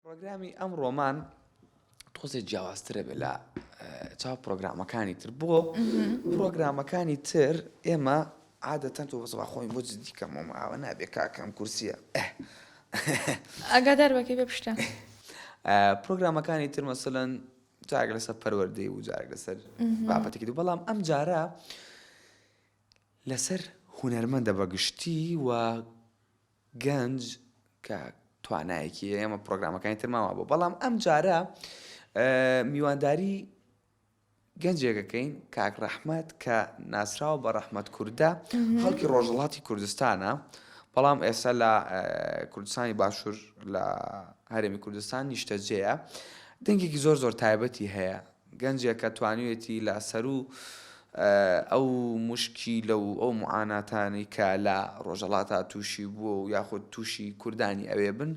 پڕۆگرامی ئەمڕۆمان تۆزێ جیاوازترە بێ لە چاو پرۆگرامەکانی تر بۆ پرۆگرامەکانی تر ئێمە عادەتەن تۆ بەزڵ خۆی بۆ دیکەم و ئاوە نابێ کاکەم کورسیە ئەگادار بەکەی بە پشتە پرۆگرامەکانی تر مەسەن جارگ لەسەر پەروەردەی و جارگ لەسەر بابەتێکی دوو بەڵام ئەم جارە لەسەر هوەرمەندە بەگشتی و گەنج کە توانایەکی هەیە ئەمە پرۆگرامەکانی ترمان وابوو بەڵام ئەم جارە میوانداری گەنجێکەکەین کاک ڕەحمەت کە ناسراوە بە ڕەحمەت کووردە خەڵکی ڕۆژهڵاتی کوردستانە بەڵام ئێستا لە کوردستانی باشوور لە هەرێمی کوردستان نیشتەجێە دەنگێکی زۆر زۆر تایبەتی هەیە گەنجێکە توانیوێتی لە سەروو ئەو موشکیلە و ئەو معاناتانەی کە لە ڕۆژەڵاتا تووشی بووە و یاخود تووشی کوردانی ئەوێ بن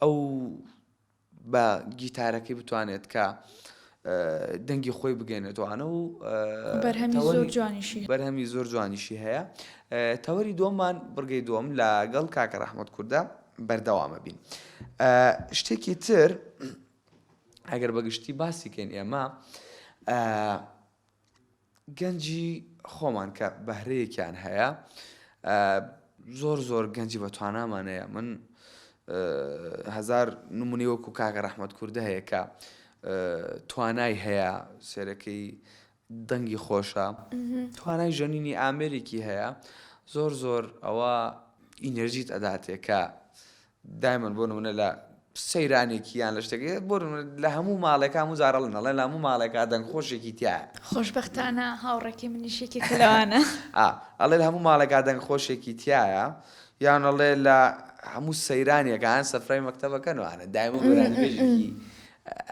ئەو بە گیتارەکەی بتوانێت کە دەنگی خۆی بگەێنێتوانە و بەرهەمی زۆر جوانیشی بەرهەمی زۆر جوانیشی هەیە تەوەری دۆمان بڕگەی دۆم لە گەڵ کاکە ڕەحمەت کووردە بەردەوامە بین شتێکی تر ئەگەر بە گشتی باسی کەین ئێمە گەنجی خۆمان کە بەهرەیەکیان هەیە زۆر زۆر گەنجی بە توانامانەیە من هزار نمونی وەکو کاگە ڕەحمەت کووردە هەیە کە توانای هەیە سێرەکەی دەنگی خۆشە توانای ژەنینی ئامێرێکی هەیە زۆر زۆر ئەوە ئینەرجیت ئەداتێ کە دایمەن بۆ نمونە لە سەیرانێکی یان لە شتێکی بۆ لە هەموو ماڵێکا و زارە لە نەڵێ لە هەموو ماڵێکا دەنگ خۆشێکی تیا خۆشببختانە هاوڕێکی منیشێکی کەلوانە ئەڵێ لە هەموو ماڵێکا دەنگ خۆشێکی تایە یانەڵێ لە هەموو سەیرانێکان سەفرای مەکتتەبەکەنوانە دایمە بێژی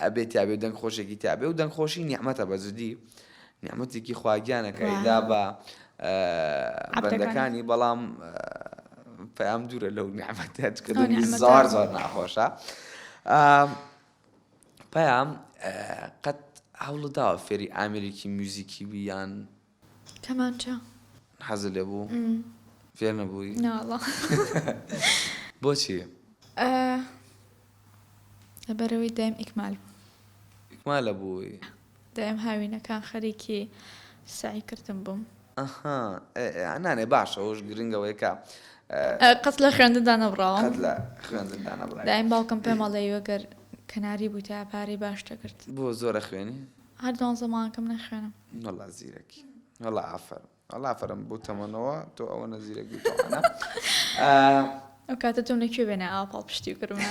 ئەبێ تیابێ و دەنگ خۆشێکی تیابێ و دەنگ خۆشی نیعمەتە بە جدی نیعمەتێکی خواگیانە کە ئەیدا بە بەندەکانی بەڵام پەیام دوورە لەو نیعمەتە چکە دەنگی زۆر زۆر ناخۆشە پەیام قەت هەوڵداوە فێری ئامریکی میوزیکی بیان کەمانچە. حەزت لێ بوو؟ فێر نەبووی؟ نا وەڵا. بۆچی؟ لەبەرئەوەی دایم ئیکمال بوو. ئیکمال ئەبووی؟ دایم هاوینەکان خەریکی سەعی کردن بووم. ئەها نانێ باشە ئەوەش گرنگە ئەوەیە کە. قەت لە خوێندندا نەبڕاوم. قەت لە خوێندندا نەبڕاوی. دایم باوکم پێمەڵێی وەگەر کەناری بوویتایە پارەی باش دەکرد. بۆ زۆر ئەخوێنی؟ هەر دوانزە مانگەکەم نەخوێنم. وەڵا زیرەکی وەڵا ئافەرم وەڵا ئافەرم بۆ تەمەنەوە تۆ ئەوەنە زیرەک بووی تەوانا ئەو کاتە تۆم لە کوێ بێنە ئاوا پاڵپشتی بکردمە